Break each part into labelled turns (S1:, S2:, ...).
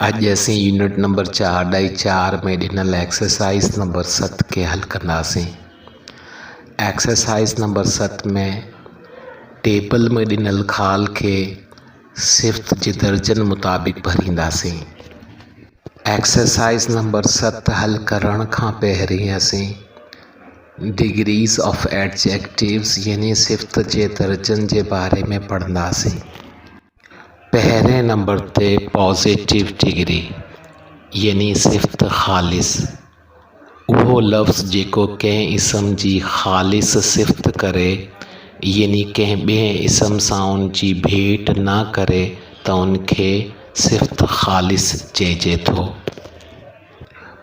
S1: اڄ اسين unit number چار ڏائي چار ۾ ڏنل ايڪسرسائز نمبر ست کي حل ڪنداسين ايڪسرسائز نمبر ست ۾ ٽيبل ۾ ڏنل خال کي صفت جي درجن مطابق ڀرينداسين ايڪسرسائز نمبر ست حل ڪرڻ کان پهرين اسين ڊگريز آف ايڊجيڪٽوز يعني صفت جي درجن جي باري ۾ پڙهنداسين. پهرين نمبر تي پازيٽو ڊگري يعني صفت خالص، اهو لفظ جيڪو ڪنهن اسم جي خالص صفت ڪري يعني ڪنهن ٻئي اسم سان ان جي ڀيٽ نه ڪري ته ان کي صفت خالص چئجي ٿو.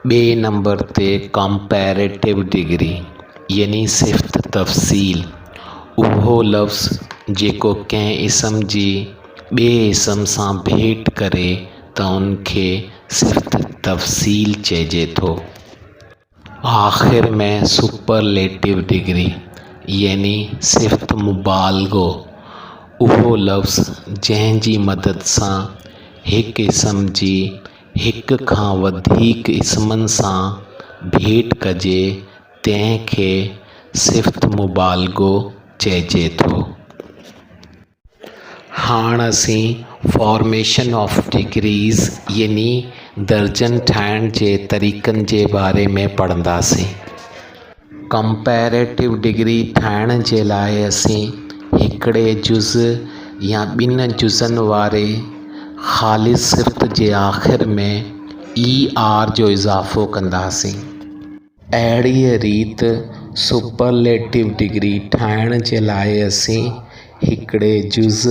S1: ٻئي نمبر تي ڪمپيريٽو ڊگري يعني صفت تفصيل اهو لفظ جيڪو ڪنهن اسم جي ٻئي اسم سان ڀيٽ ڪري ته ان کي صفت تفصيل چئجي ٿو. آخر ۾ سپرليٽو ڊگري يعني صفت مبالغو اهو لفظ جنهن جي مدد سان هڪ اسم جي هڪ کان وڌيڪ اسمن سان ڀيٽ ڪجي، تنهن کي صفت مبالغو چئجي ٿو. هاڻ اسين فارميشن آف ڊگريز يعني درجن ٺاهڻ جي طريقن جي باري ۾ پڙهنداسين. ڪمپيريٽو ڊگري ٺاهڻ جي لاء اسين هڪڙي جز يا ٻن جزن واري خالص سرت جي آخر ۾ اي آر جو اضافو ڪنداسين. اهڙيء ريت سپرليٽو ڊگري ٺاهڻ جي لاء اسين هڪڙي جز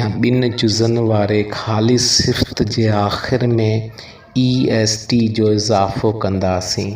S1: يا ٻن جزن واري خالص سرت جي آخر ۾ اي ايس ٽي جو اضافو ڪنداسين.